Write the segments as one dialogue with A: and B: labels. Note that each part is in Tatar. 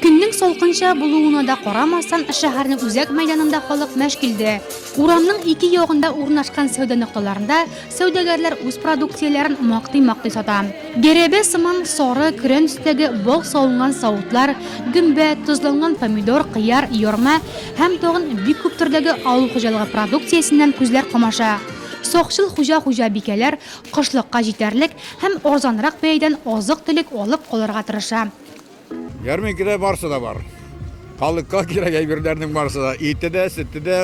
A: Көннең салкынча булуына да карамастан, шәһәрнең үзәк мәйданында халык мәш килде. Урамның ике ягында урнашкан сәүдә нокталарында сәүдәгәрләр үз продукцияләрен мактый-мактый сата. Гәрәбә сыман сары көрән өстәге бал салынган савытлар, гөмбә, тозланган помидор, кыяр, ярма һәм тагын бик күп төрдәге авыл хуҗалыгы продукциясеннән күзләр камаша. Сакчыл хуҗа-хуҗабикәләр кышлыкка җитәрлек һәм арзанрак бәядән азык-төлек алып калырга тырыша. Ярминкәдә
B: барсы да бар. Халыкка кирәк әйберләрнең барсы да. Ите дә, сөте дә,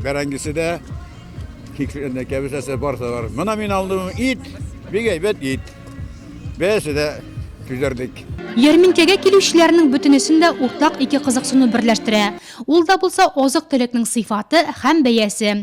B: бәрәңгесе дә, кәбесәсе барсы да бар. Мына мин алдым ит, бик әйбәт ит. Бәясе дә төзәрдек. Ярминкәгә
A: килүчеләрнең бөтенесен дә уртак ике кызыксыну берләштерә. Ул да булса азык-төлекнең сыйфаты һәм бәясе.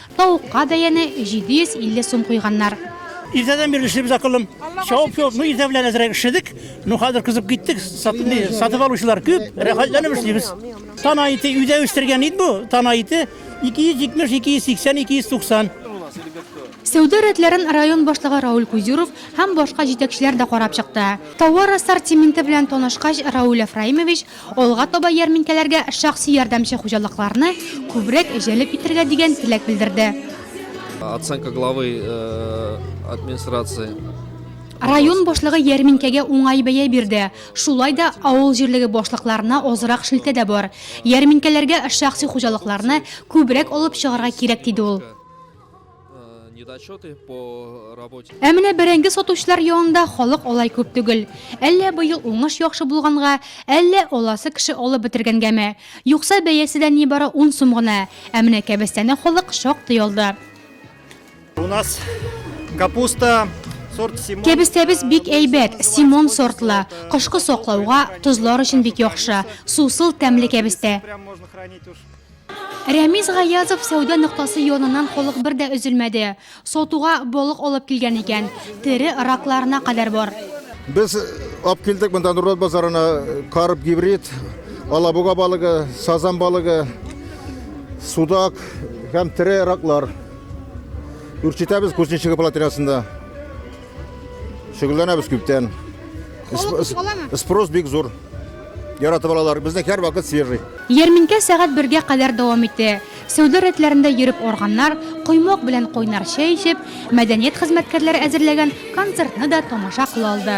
A: Тавыкка бәяне 750 сум куйганнар. Иртәдән бирле
C: эшлибез, акыллым. Чабып чабып, ну иртә белән әзрәк эшләдек. Ну хәзер кызып киттек. Сатып алучылар күп, рәхәтләнеп эшлибез. Тана ите, өйдә үстергән ит бу. Тана ите 270, 280, 290.
A: Сәүдә рәтләрен район башлыгы Рауль Кузюров һәм башка җитәкчеләр дә карап чыкты. Товар ассортименты белән танышкач, Рауль Әфраимович Алга таба ярминкәләргә шәхси ярдәмче хуҗалыкларны күбрәк җәлеп итәргә дигән теләк белдерде. Оценка
D: главы администрации.
A: Район башлыгы ярминкәгә уңай бәя бирде. Шулай да авыл җирлеге башлыкларына азрак шелтә дә бар. Ярминкәләргә шәхси хуҗалыкларны күбрәк алып чыгарга кирәк, диде ул. недочеты
D: по работе. Ә менә бәрәңге
A: сатучылар янында халык алай күп түгел. Әллә быел уңыш яхшы булганга, әллә аласы кеше алып бетергәнгәме? Юкса бәясе дә нибары 10 сум гына. Ә менә кәбестәне халык шактый алды. У
E: нас капуста сорт Симон. Кәбестәбез бик әйбәт,
A: Симон сортлы. Кышкы саклауга, тозлар өчен бик яхшы. Сусыл, тәмле кәбестә.
E: Рәмис
A: Гаязов сәүдә ноктасы яныннан халык бер дә өзелмәде. Сатуга балык алып килгән икән, тере ракларына кадәр бар. Без
F: алып килдек монда Нурлат базарына карп, гибрид, алабуга балыгы, сазан балыгы, судак һәм тере раклар. Үрчетәбез Кузнечики плотинасында. Шөгыльләнәбез күптән. Спрос бик зур. Яратып алалар. Безнең һәр вакыт свежий. Ярминкә сәгать
A: бергә кадәр дәвам итә. Сәүдә рәтләрендә йөреп арганнар, коймак белән кайнар чәй эчеп, мәдәният хезмәткәрләре әзерләгән концертны да тамаша кыла алды.